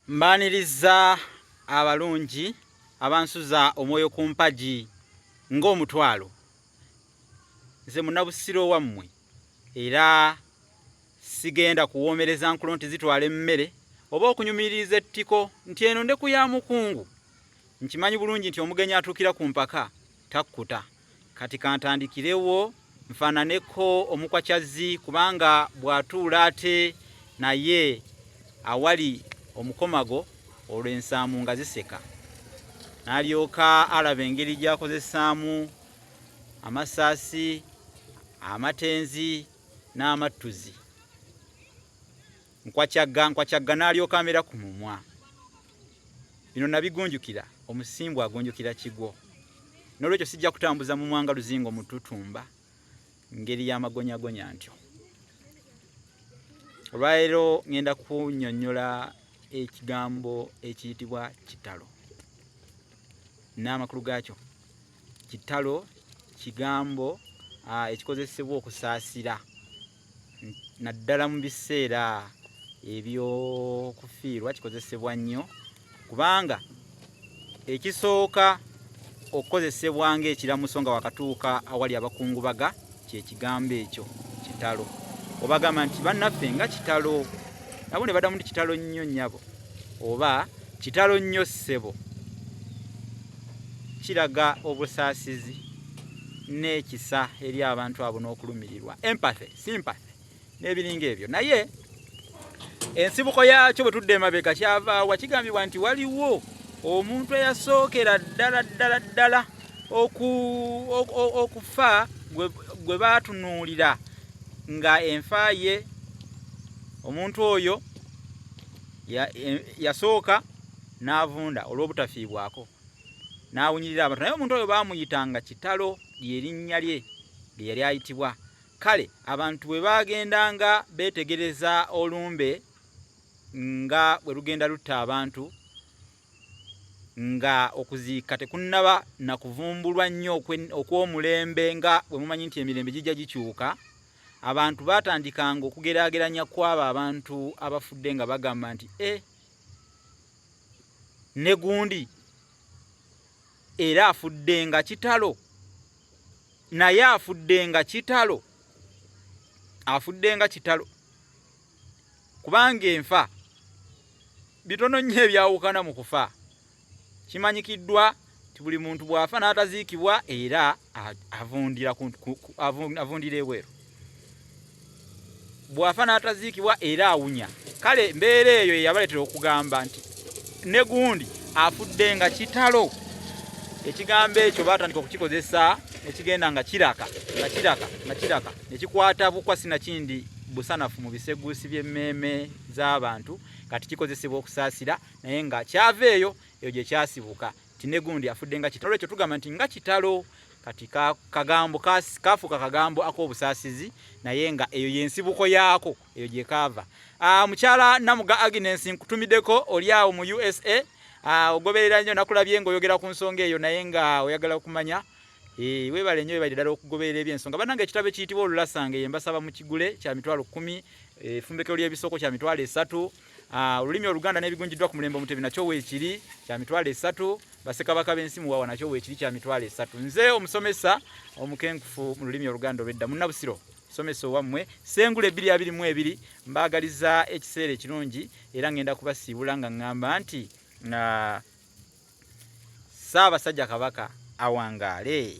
Mbaaniriza abalungi abansuza omwoyo ku mpagi ng'omutwalo. Nze munabusiro wammwe era sigenda kuwoomereza nkulo nti zitwala emmere oba okunyumiririza ettiko nti eno ndeku ya mukungu. Nkimanyi bulungi nti omugenyi atuukira ku mpaka takkuta. Kati kantandikirewo nfaananeko omukwa kyazzi kubanga bw'atuula ate naye awali omukomago olwo ensaamu nga ziseka n'alyoka alaba engeri gy'akozesaamu amasaasi amatenzi n'amattuzi. nkwakyagga nkwakyagga n'alyoka amera ku mumwa bino nabigunjukira omusimbu agunjukira kigwo n'olwekyo sijja kutambuza mu mwanga luzingo mututumba ngeri y'amagonyagonya ntyo olwaleero ŋŋenda kunyonnyola ekigambo ekiyitibwa kitalo n'amakulu gaakyo kitalo kigambo ekikozesebwa okusaasira naddala mu biseera ebyokufiirwa kikozesebwa nnyo kubanga ekisooka okukozesebwa ng'ekiramuso nga wakatuuka awali abakungubaga kyekigambo ekyo kitalo obagamba nti bannaffe nga kitalo nabo ne badamu nti kitalo nnyo nnyabo oba kitalo nnyo ssebo kiraga obusaasizi n'ekisa eri abantu abo n'okulumirirwa empathy sympathy n'ebiringa ebyo naye ensibuko yaakyo bwe tudde emabega kyavaawa kigambibwa nti waliwo omuntu eyasookera ddala ddala ddala okufa gwe baatunuulira nga enfa ye omuntu oyo yasooka n'avunda olw'obutafiibwako n'awunyirira abantu naye omuntu oyo baamuyitanga kitalo lye linnya lye lye yali ayitibwa kale abantu bwe baagendanga beetegereza olumbe nga bwe lugenda lutta abantu nga okuziika tekunnaba na kuvumbulwa nnyo okw'omulembe nga bwe mumanyi nti emirembe gijja gikyuka abantu baatandikanga okugeraageranya kw'abo abantu abafudde nga bagamba nti e eh, ne gundi era afudde nga kitalo naye afudde nga kitalo afudde nga kitalo kubanga enfa bitono nnyo ebyawukana mu kufa kimanyikiddwa nti buli muntu bw'afa n'ataziikibwa era avundira avundira ebweru bw'afa n'ataziikibwa era awunya kale mbeera eyo eyabaleetera okugamba nti ne gundi afudde nga kitalo ekigambo ekyo baatandika okukikozesa ekigenda nga kiraka nga kiraka nga kiraka nekikwata bukwa sinakindi busanafu mu biseguusi by'emmeeme z'abantu kati kikozesebwa okusaasira naye nga kyava eyo eyo gye kyasibuka nti ne gundi afudde nga kitalo olwekyo tugamba nti nga kitalo kati kagambo kafuuka kagambo ak'obusaasizi naye nga eyo yensibuko yaako eyo gye kaava ah, mukyala namuga aginensi nkutumiddeko oli awo mu usa ah, ogoberera nnyo nakulabye nga oyogera ku nsonga eyo naye nga oyagala okumanya Eh, webale nyo webale dala okugoberera ebyensonga banange ekitabo ekiyitibwa olulasanga ye mbasaba mukigule kya mitwalo kumi efumbekero eh, ly'ebisoko kya mitwalo esatu Ah, olulimi oluganda n'ebigunjiddwa ku mulembe omutebi nakyo weekiri kya mitwalo esatu basekabaka b'ensi muwawa nakyo weekiri kya mitwalo esatu nze omusomesa omukenkufu mu lulimi oluganda olwedda munnabusiro somesa owammwe sengula ebiri abiri mu ebiri mbaagaliza ekiseera ekirungi era ngenda kubasiibula nga ŋŋamba nti na ssaabasajja kabaka awangaale